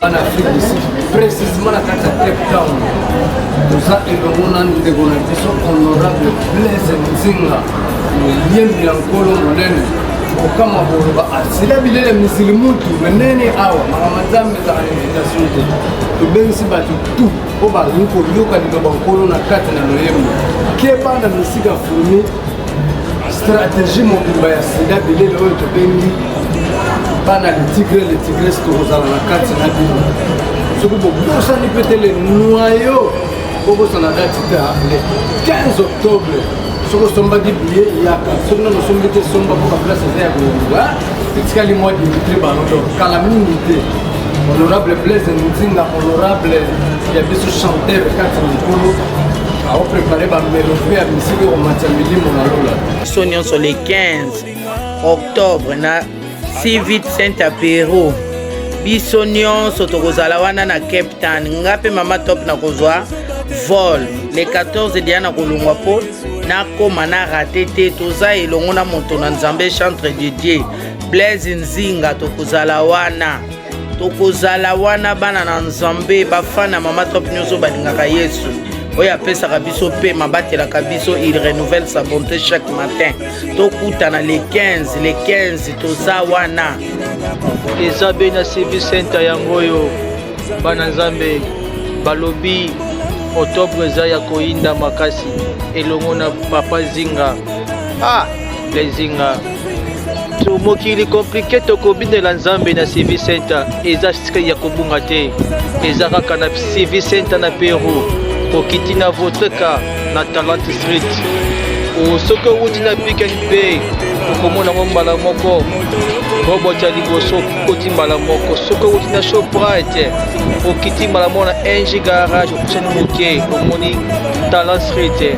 en Afrique du Sud, précisément la carte à Cape Town. Nous avons également des organisations honorables Blaise Nzinga, le lien de l'Ankolo Monene. okama boloba asila bilele misili mutu menene awa makama nzambe ezaka na invitation te tobengisi bato tu oyo balingi koyoka liloba nkolo na kati na loyembo keba na misika fumi stratégie mobimba ya sida bilele oyo tobengi bana le tigre le tigres tokozala na kati na bino soki bobosani mpe te le noyo bobosana dati ta le 15 octobre soki osombaki biye yaka soki nano osombi te somba mpo baplace eza ya koyamba etikali mwa dimitri balodo kala mingi te honorable blaise nzinga honorable ya biso chanteur kati na likolo biso nyonso le 15 octobre na civit saint apero biso nyonso tokozala wana na cape town nga mpe mama top nakozwa vol le 14 deya nakolongwa mpo nakóma na rate te toza elongo na moto na nzambe chantre de dieu blaise nzinga tokozala wana tokozala wana bana na nzambe bafana mama top nyonso balingaka yesu oyo apesaka biso pema batelaka biso il renouvelle sa bonté chaque matin tokutana le 15 le 15 toza wana eza be na cv center yango oyo bana nzambe balobi octobre eza ya koyinda makasi elongo na papa zinga ah! Lezinga to mokili komplike tokobinela nzambe na civil center eza stre ya kobunga te eza kaka na civil center na peru kokiti na votre ka na talent street soki owuti na piken bay okomona yango mbala moko robot ya liboso okoti mbala moko soki owuti na shoprite okiti mbala moko na ng garage okutani moke omoni talent street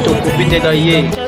tokobinela ye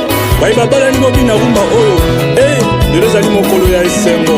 baye babalani bobina rumba oyo e lelo ezali mokolo ya esengo